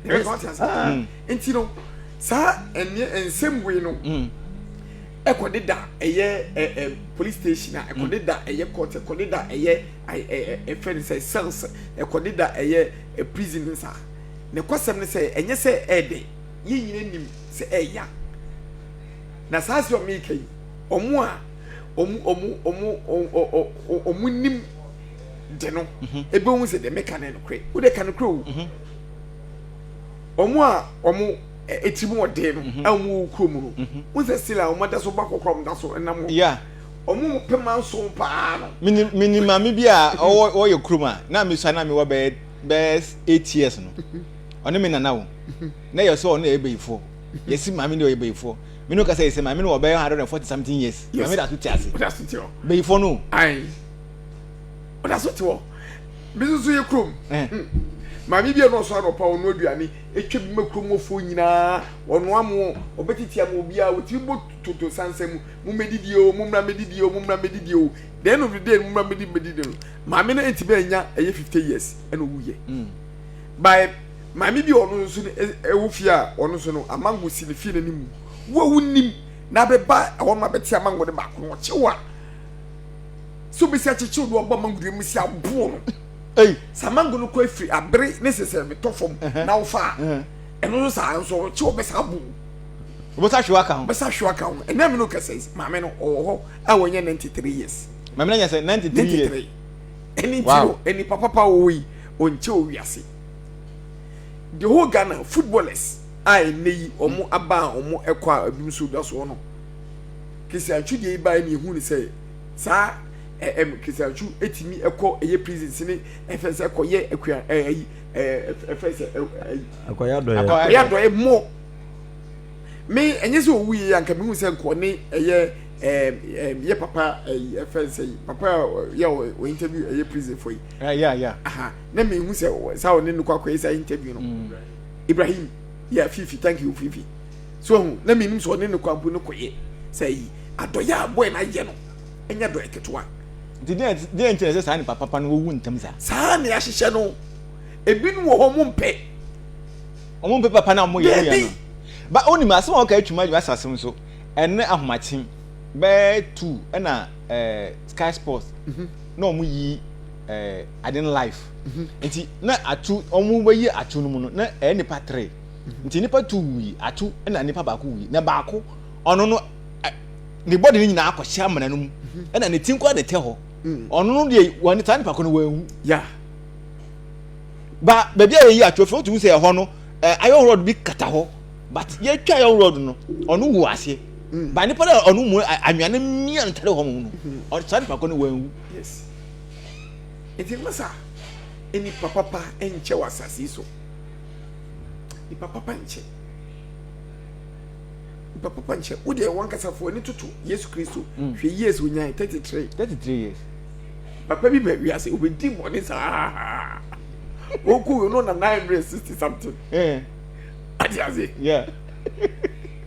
ɛbɛ so ate ase ah. mm. nti no saa ɛnneɛ nsɛm wei no mm. ɛkɔ de da ɛyɛ ɛ ɛ police station a ɛkɔ de da ɛyɛ court ɛkɔ de da ɛyɛ ɛ ɛ ɛfɛ ne sɛ cells ɛkɔ de da ɛyɛ ɛ prison ne saa ne kɔsɛm ne sɛ ɛnyɛ sɛ ɛɛdɛ yɛn nyina nim sɛ ɛɛya na saa sɛ ɔmo yi ka yi ɔmo a ɔmo ɔmo ɔmo ɔmo ɔmo nim. de no mhm. ebehu sɛ deɛ meka ne nokorɛ wo deɛ ka nokorɛ o mhm. wɔn a wɔn eti mu ɔden no mhm. a wɔn wɔ kurom no wɔn sɛ sila wɔn da so ba kɔkɔrɔ wɔn da so nam hɔ wɔn pɛma nso paa no. mini mini maame bi a ɔwɔ ɔyɛ kurom a na mi sua na mi wɔ bɛyɛ bɛyɛ eight years no ɔne mi nana o na yɛ sɛ ɔne yɛ bɛyifoɔ yɛ si maame ne ɔyɛ bɛyifoɔ mi n'o kasa yɛ sɛ maame no wɔ bɛyɛ hundred and forty something years maame da so ti ase bɛyifoɔ no. ɔda so te hɔ bi nso yɛ kurom eh. hmm. maame bi a ɔnɔɔso anɔpa ɔno aduane atwa bi ma kurom wɔfoɔ nyinaa ɔno amoɔ ɔbɛtete ama obiara wɔtumi bɔ toto sansa mu mo mɛdidie o mo mmra mɛdidie o mo mmra mɛdidie o the end of the day mo mmra mɛdi mɛdidie no maame no ɛntumi anya ɛyɛ fifty years ɛna ɔwuyɛ hmm. by maame bi ɔno nso ɛwɔ fie a ɔno nso no amango si ne fie no ne mu wo a wonim na bɛba ɛhɔ no ma bɛte amango no baako no ɔkyew a sɛ obɛsi akyekyew no aba mango dua mu si aboɔ no saa mango no kɔ afiri abere ne sesɛ metɔ fam na wofa a ɛno nso saa nso ɔkye wɔbɛsa abo wobɛsa hwe waka ho bɛsa hwe waka ho ɛnɛ me no kɛsɛ maame no ɔwɔ hɔ a wɔnyɛ 93 years maame no nyɛ sɛ 93 years ɛne nti no ɛni papa pa wɔwɔ yi ɔnkyɛ wɔ wiase the whole Ghana footballers a ɛnɛ yi ɔmo aba a ɔmo ɛkɔ a ebi nso da soɔ no Keseantwu deɛ yi baeɛ no yɛhuu no sɛ saa ɛ ɛm Keseantwu ɛtumi ɛkɔ ɛyɛ prison sini ɛfɛn sɛ ɛkɔ yɛ akua ɛ ɛyi ɛ ɛfɛn sɛ ɛ ɛyi akɔyɛ adɔyɛ akɔyɛ adɔyɛ mo me ɛnyɛ sɛ ɔwu yɛ anka mehu sɛ nkɔ ne ɛyɛ ɛ ɛ yɛ papa ɛyi ɛfɛn sɛ yi papa yɛ ɔ interview ɛyɛ prison fo yi ɛyɛ yeah, yeah. aha na mehu sɛ saa ɔne no kɔ akɔyɛ saa interview no mm. Ibrahim yeah Fifi thank you Fifi so ohun na minim sɛ ɔne no kwan bu no kɔ yɛ sɛ yi adɔyɛ a boy no ayɛ no ɛnyɛ dɔyɛ ketewa nti deɛ nti na ɛsɛ saa nipa papa no wɔwu ntɛm saa saa ne ahyehyɛ no ebinom wɔ hɔ ɔmo mpɛ ɔmo mpɛ papa no a ɔmo yɛ no yɛ no ba onim asɛm a ɔka atwuma adwuma asase nso ɛne ahomakye bɛɛ tu ɛna ɛɛ sky sports mhm. na ɔmo yi ɛɛ aden life mhm. nti na atu ɔmo bɛyi atu no mu no na ɛyɛ nipa tere. nti nnipa tu wui atu na nnipa baako wui na baako ɔno no ne bɔde no nyinaa akɔhyɛ amena no mu ɛna ne ti nkora na ɛtɛ hɔ ɔno no deɛ wɔn saa nipa ko no wɔn ehu ba baabi a yɛyi ato afei wotu sɛ ɛhɔ no ɛɛ ayɔn rɔd bi kata hɔ but yɛtwa ayɔn rɔd no ɔno wu aseɛ ba nipa no a ɔno mu anwia no mia no tare hɔ mu no ɔno saa nipa ko no wɔn ehu. Nti masa nipa papa nkyɛ wɔ asase so. nipa papa nkyɛ nipa papa nkyɛ wo deɛ wankasa fo ani toto yesu kristo mm. hwɛ years onyan 33 33 years papa bi bɛ wiase obɛdi bɔne saa wɔkɔ wei no na 960 something eh. ate ase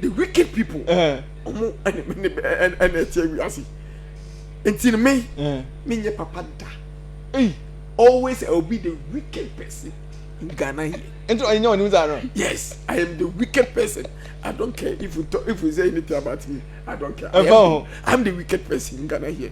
the wicked people ɔmo ɛna ɛna ɛna ɛte awia ase nti no me me nyɛ papa da always i will be the wicked person in ghana here. nti ɔyɛ nyɛ ɔnim saa no. yes i am the wicked person i don't care if you talk if you say anything about me i don't care. ɛfɔ ho i am the wicked person in ghana here.